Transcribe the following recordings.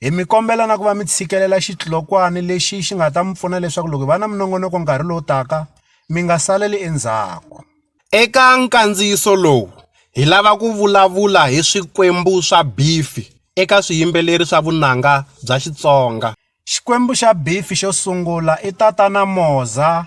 Hi mi kombela na ku va mi tshikelela xidlokwana lexi xi nga ta mi pfuna leswaku loko hi va na minongonoko nkarhi lowu taka mi nga saleli endzhaku. Eka nkandziyiso lowu hi lava ku vulavula hi swikwembu swa bifi eka swiyimbeleri swa vunanga bya Xitsonga. Xikwembu xa bifi xo sungula i Tatana Moza.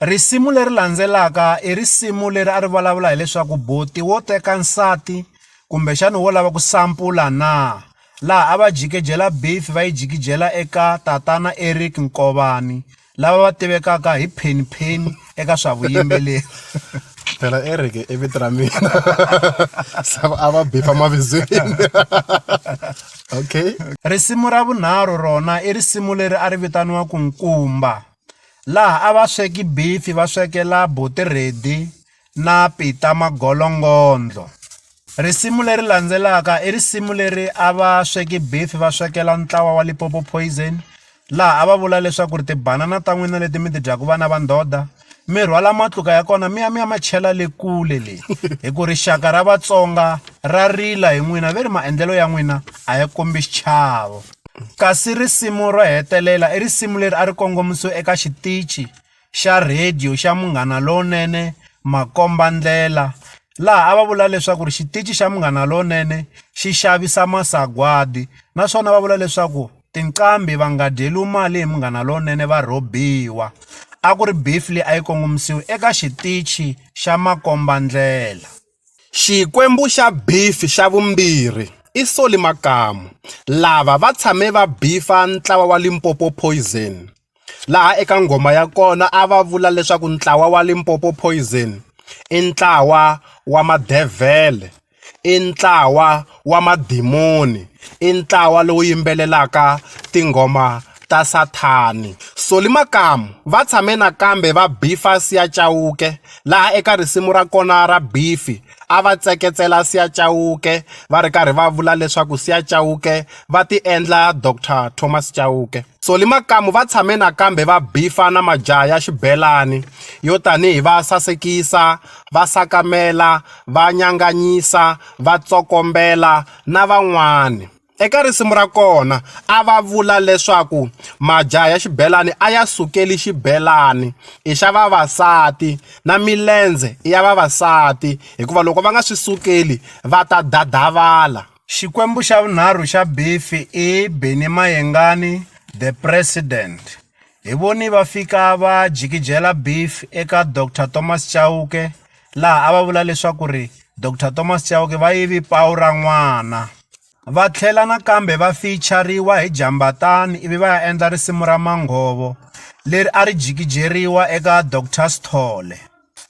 Risimu leri landzelaka i risimu leri a ri vulavula hileswaku buti wo teka nsati kumbexana wo lava ku sampula na laha a va jikijela beef va yi jikijela eka tatana Eric Nkovani lava va tivekaka hi Penny Penny eka swa vuyimbeleri phela Eric i vito ra mina sava a va bifa mavibyeni okay risimu ra vunharhu rona i risimu leri a ri vitaniwa ku nkumba laha a va sweka beef-i va swekela buti Reddy na Pita Magolongodlo. Risimu leri landzelaka i risimu leri a va sweka beef-i va swekela ntlawa wa Limpopo Poison, laha a va vula leswaku ri tibanana ta n'wina leti mi ti dyaka vana va ndhodha, mi rhwala matluka ya kona mi ya mi ya ma chela le kule le, hi ku rixaka ra Vatsonga ra rila hi n'wina ve ri maendlelo ya n'wina a ya kombi xichavo. Kasi risimu ro hetelela i risimu leri a ri kongomisiwe eka xitichi xa rhadiyo xa Munghana Lonene Makombandlela laha a va vula leswaku ri xitichi xa Munghana Lonene xi xavisa masagwadi naswona va vula leswaku tinqambi va nga dyeriwi mali hi Munghana Lonene va rhobiwa a ku ri beef leyi a yi kongomisiwi eka xitichi xa Makombandlela. Xikwembu xa beef xa vumbirhi i Solly Makamu lava va tshame va beef-a ntlawa wa Limpopo Poison laha eka nghoma ya kona a va vula leswaku ntlawa wa Limpopo Poison i ntlawa wa madevhele i ntlawa. wa madimoni i ntlawa lowu yimbelelaka tinghoma ta Sathana. Solly Makamu va tshame nakambe va bifa Sia Chauke laha eka risimu ra kona ra Bifi a va tseketsela Sia Chauke va ri karhi va vula leswaku Sia Chauke va ti endla Doctor Thomas Chauke. Solly Makamu va tshame nakambe va bifa na majaha ya xibelani yo tanihi va Sasekisa, va Sakamela, va Nyanganyisa, va tsokombela na van'wana. Eka risimu ra kona a va vula leswaku majaha ya xibelani a ya sukeli xibelani i xa vavasati na milendze i ya vavasati hikuva loko va nga swi sukeli va ta dadavala. Xikwembu xa vunharhu xa Biffi i Benny Mayengani The President Hi voni va fika va jikijela beef eka Doctor Thomas Chauke laha a va vula leswaku ri Doctor Thomas Chauke va yivi pawu ra n'wana. Va tlhela nakambe va feature-riwa hi Jambatani ivi va ya endla risimu ra Manghovo leri a ri jikijeriwa eka Doctor Sithole.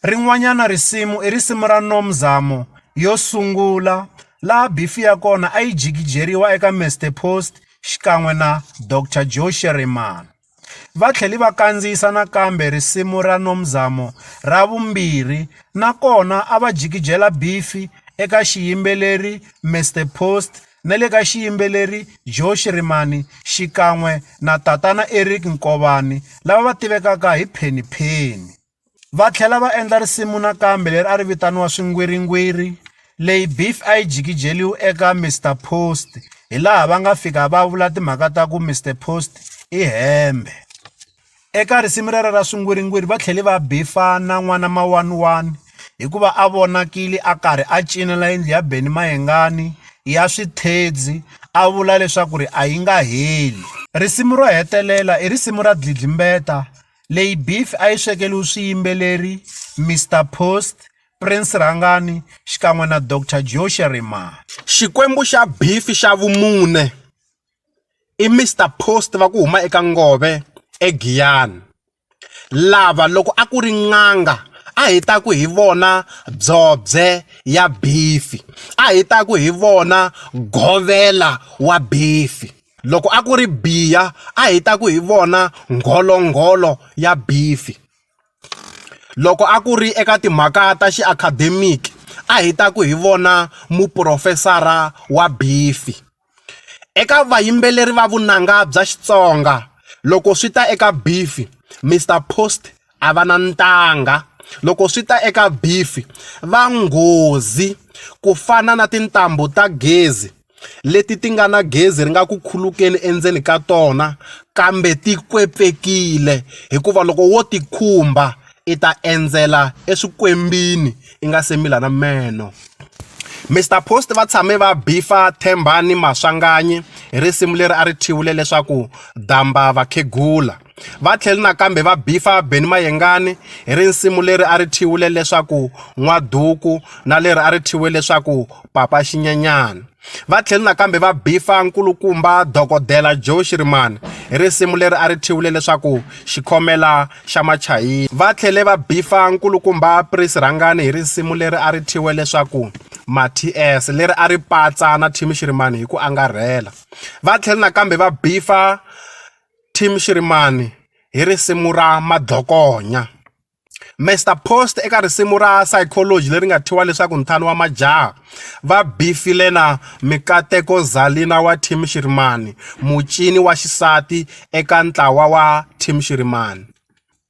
Rin'wanyana risimu i risimu ra No Mzamo yo sungula laha beef ya kona a yi jikijeriwa eka Mister Post xikan'we na Doctor Joe Shirimani. Va tlhele va kandziyisa nakambe risimu ra No Mzamo ra vumbirhi na kona a va jikijela beef eka xiyimbeleri Mister Post na le ka xiyimbeleri Joe Shirimani xikan'we na Tatana Eric Nkovani lava va tivekaka hi Penny Penny. Va tlhela va endla risimu nakambe leri a ri vitaniwa Swingwiringwiri, leyi Biff a yi jikijeliwe eka Mister Post hi laha va nga fika va vula timhaka ta ku Mister Post i hembe. Eka risimu rero ra Swingwiringwiri va tlhele va bifa na N'wana Mawaniwani hikuva a vonakile a karhi a cinela yindlu ya Benny Mayengani ya swithedzi a vula leswaku ri a yi nga heli. Risimu ro hetelela i risimu ra Dlidlimbeta Leyi beef a yi swekeriwe swiyimbeleri Mister Post, Prince Rhangani xikan'we na Doctor Joe Sherimani. Xikwembu xa beef xa vumune i Mister Post va ku huma eka Ngove eGiyani lava loko a ku ri n'anga a hi ta ku hi vona Dzobye ya beef a hi ta ku hi vona Govela wa beef. Loko a ku ri biya a hi ta ku hi vona ngholo-ngholo ya bifi. Loko a ku ri eka timhaka ta xi academic a hi ta ku hi vona muporofesara wa bifi. Eka vayimbeleri va vunanga bya Xitsonga loko swi ta eka bifi Mister Post a va na ntanga, loko swi ta eka bifi va nghozi ku fana na tintambu ta gezi. leti ti nga na gezi ri nga ku khulukela endzeni ka tona kambe ti kwepfekile hikuva loko wo ti khumba i ta endzela eswikwembini i nga se mila na meno. Mister Post va tshame va beef-a Thembani Maswanganyi hi risimu leri a ri thyiwile leswaku damba vakhegula. Va tlhele nakambe va bifa Benny Mayengani hi risimu leri a ri thyiwile leswaku N'wa Duku na leri a ri thyiwe leswaku Papa Xinyanyana. Va tlhele nakambe va bifa nkulukumba Dokodela Joe Shirimani hi risimu leri a ri thyiwile leswaku Xikhomela xa Machayina. Va tlhele va bifa nkulukumba Prince Rhangani hi risimu leri a ri thyiwe leswaku Maties leri a ri patsa na Thimi Shirimani hi ku angarhela. Va tlhele nakambe va bifa Team Shirimani hi risimu ra madhokonya Mister Post eka risimu ra psychology leri nga thyiwa leswaku ntlhanu wa majaha va bifile na mikateko Zalina wa Team Shirimani mucini wa xisati eka ntlawa wa Team Shirimani.